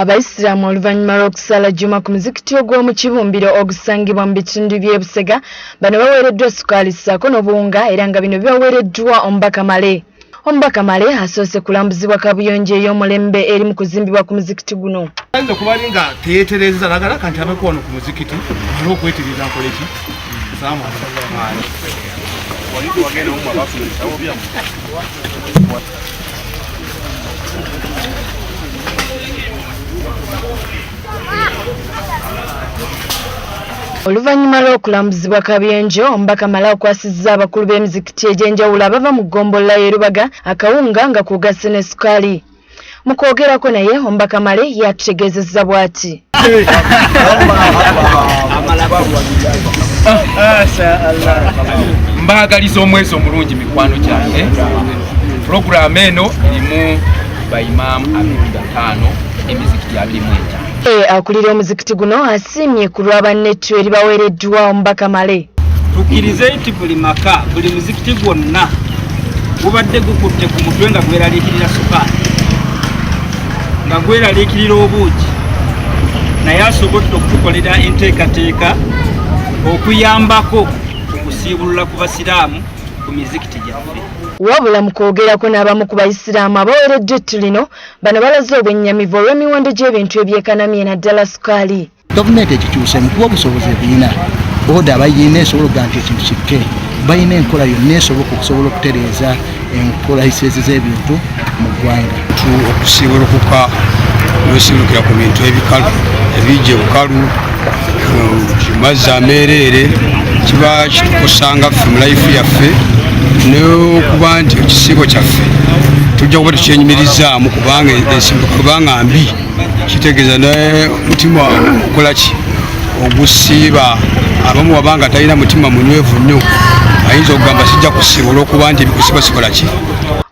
Abayisiraamu oluvannyuma lw'okusaala jjuma ku muzikiti ogw'omu kibumbiro ogusangibwa mu bitundu by'e Busega bano baweereddwa sukaali ssaako n'obuwunga era nga bino bibaweereddwa omubaka Male. Omubaka Male asoose kulambuzibwa kaabuyonjo ey'omulembe eri mu kuzimbibwa ku muzikiti guno. Ayinza okuba nga teyeetereeza nagalaka nti abeko wano ku muzikiti alina okwetereeza nkoleki Oluvannyuma lw'okulambuzibwa Kabyenjo, omubaka Mala akwasizza abakulu b'emizikiti egy'enjawulo abava mu ggombolola y'e Lubaga akawunga nga kw'ogasse ne sukaali. Mu kwogerako naye omubaka Male yatutegeezezza bw'ati. mbaagaliza omwezi omulungi mikwano gyange pulogulaamu eno erimu baimaamu abiri bataano emizikiti abiri mu etaano E, akulira omuzikiti guno asiimye ku lwa bannettu eribaweereddwa omubaka male tukkirize nti buli maka buli muzikiti gwonna gubadde gukutte ku mutwe nga gweraliikirira sukaali nga gweraliikirira obuugi naye asobodde okutukolera enteekateeka okuyambako okusiibulula ku basiraamu ku mizikiti gyaffe wabula mu kwogerako n'abamu ku bayisiraamu abaweereddwa ettu lino Bano balaze obwennyamivu olw'emiwendo gy'ebintu ebyekanamye naddala sukaali. Gavumenti ekikyuseemu kuba obusobozi ebirina oda bayina esobola okuga nti ekintu kikke balina enkola yonna esoboka okusobola okutereeza enkolaisezi z'ebintu mu ggwanga okusiibulukuka wesiibulukira ku bintu ebikalu ebijja bukalu mazzi ameereere kiba kitukusanga ffe mu layifu yaffe n'okuba nti ekisiibo kyaffe tujja kuba tukyenyumirizaamu kubanga ensimbi kubanga mbi kitegeeza nomutima okola ki ogusiiba abamu waba nga talina mutima munywevu nnyo ayinza okugamba sijja kusiiba olwokuba nti ebikusiba sikola ki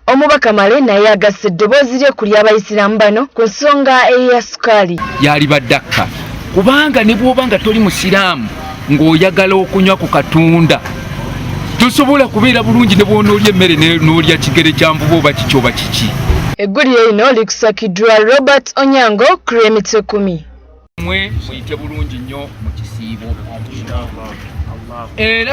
omubaka male naye agassa eddoboozi lye ku ly'abayisiraamu bano ku nsonga eya sukaali yalibadde akka kubanga ne bwoba nga toli musiraamu ng'oyagala okunywa ku katunda tosobola kubeera bulungi ne bwonoolya emmere n'olya kigere kya mvuba oba kiki oba kiki eggulire lino likusakiddwa robert onyango kuremite kumi mwe muyite bulungi nnyo mu kisiibo era